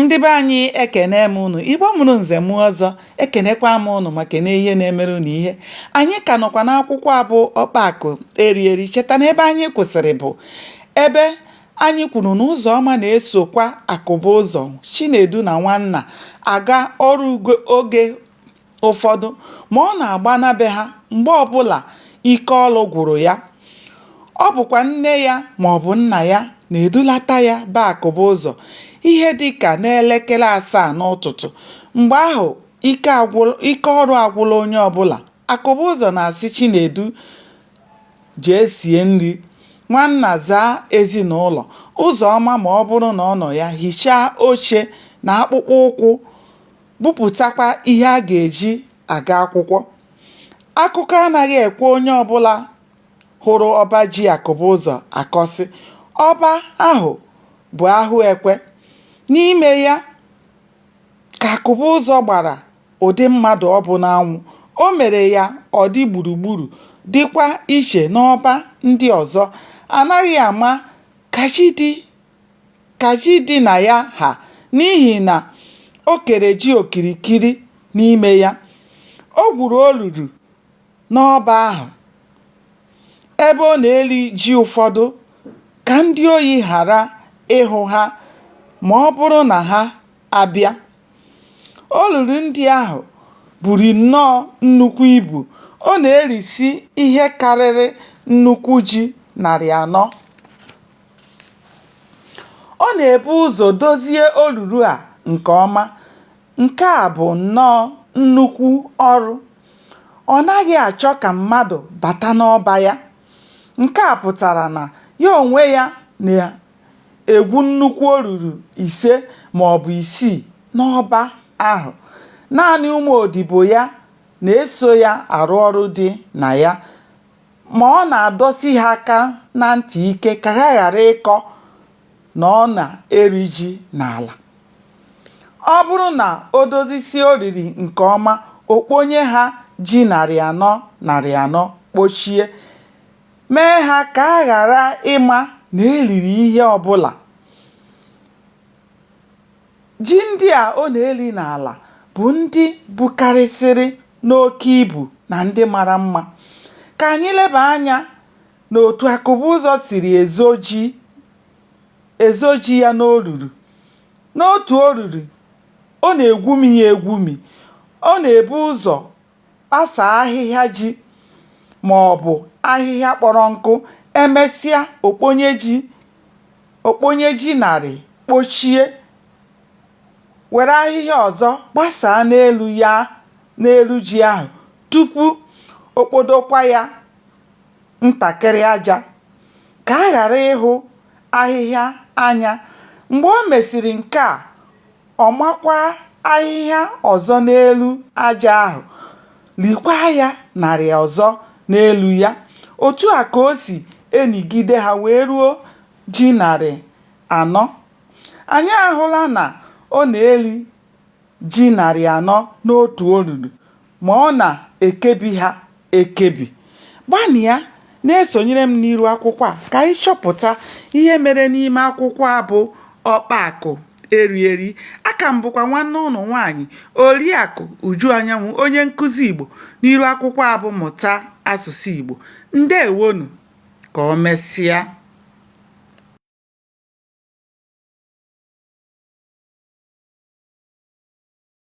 ndị be anyị ekene m unu igbo mụrụ nze mụọ ọzọ ekenekwa m unu ma kene ihe na-emere unu ihe anyị ka nọkwa n'akwụkwọ a bụ Ọkpa Akụ Eri Eri cheta na ebe anyị kwụsịrị bụ ebe anyị kwuru na Ụzọma na-esokwa Akụbụzọ chinedu na nwanna aga ọrụ oge ụfọdụ ma ọ na-agbana be ha mgbe ọbụla ike ọlụ gwụrụ ya. Ọ bụkwa nne ya maọbụ nna ya na-edulata ya be Akụbụzọ ihe dịka n'elekere asaa n'ụtụtụ. Mgbe ahụ, ike ọrụ agwụla onye ọbụla. Akụbụzọ na-asị Chinedu jee sie nri, Nwanna zaa ezinụlọ, Ụzọma ma ọ bụrụ na ọ nọ ya hichaa oche na akpụkpọ ụkwụ bupụtakwa ihe a ga-eji aga akwụkwọ. Akụkọ anaghị ekwe onye ọbụla hụrụ ọba ji Akụbụzọ akọsị. Ọba ahụ bụ a hụ e kwe. N'ime ya ka Akụbụzọ gbara ụdị mmadụ ọ bụ n'anwụ. O mere ya ọ dị gburugburu dịkwa iche n'ọba ndị ọzọ. Anaghị ama ka ji dị ka ji dị na ya ha n'ihi na o kere ji okirikiri n'ime ya. O gwuru olulu n'ọba ahụ ebe ọ na-eli ji ụfọdụ ka ndị ohi ghara ịhụ ha ma ọ bụrụ na ha abịa. Olulu ndị ahụ buru nnọọ nnukwu ibu. Ọ na-erisi ihe karịrị nnukwu ji narị anọ. Ọ na-ebu ụzọ dozie olulu a nke ọma, nke a bụ nnọọ nnukwu ọrụ. Ọ naghị achọ ka mmadụ bata n'ọba ya. Nke a pụtara na ya onwe ya na-egwu nnukwu olulu ise ma ọ bụ isii n'ọba ahụ. Naanị ụmụ odibo ya na-eso ya arụ ọrụ dị na ya. ma ọ na-adọsi ha aka na ntị ike ka ha ghara ịkọ na ọ na-eli ji n'ala. Ọ bụrụ na o dozisie olili nke ọma, o kponye ha ji narị anọ narị anọ kpochie, mee ha ka a ghara ịma na e liri ihe ọbụla. Ji ndị a ọ na-eli n'ala bụ ndị bukarịsịrị n'oke ibu na ndị mara mma. Ka anyị leba anya n'otu Akụbụzọ siri ezo ji ya n'olulu. N'otu olulu, ọ na-egwumi ya egwumi. Ọ na-ebu ụzọ kpasa ahịhịa ji ma ọ bụ ahịhịa kpọrọ nkụ emesịa o kponye ji narị kpochie were ahịhịa ọzọ gbasaa n'elu ji ahụ tupu o kpodokwa ya ntakịrị aja ka a ghara ịhụ ahịhịa anya mgbe o mesịrị nke a ọ makwa ahịhịa ọzọ n'elu aja ahụ, likwa ya narị ọzọ n'elu ya. Otu a ka o si enigide ha wee ruo ji narị anọ. Anyị ahụla na ọ na-eli ji narị anọ n'otu olulu. ma ọ na-ekebi ha ekebi. Gbanịa na-esonyere m n'iru akwụkwọ a ka anyị chọpụta ihe mere n'ime akwụkwọ a bụ Ọkpa Akụ Eri Eri. Aka m bụkwa nwanne ụnụ nwaanyị Oriakụ Uju Anyanwụ onye nkụzi Igbo n'iru akwụkwọ a bụ Mụta Asụsụ Igbo. Ndewonụ! Ka o mesịa.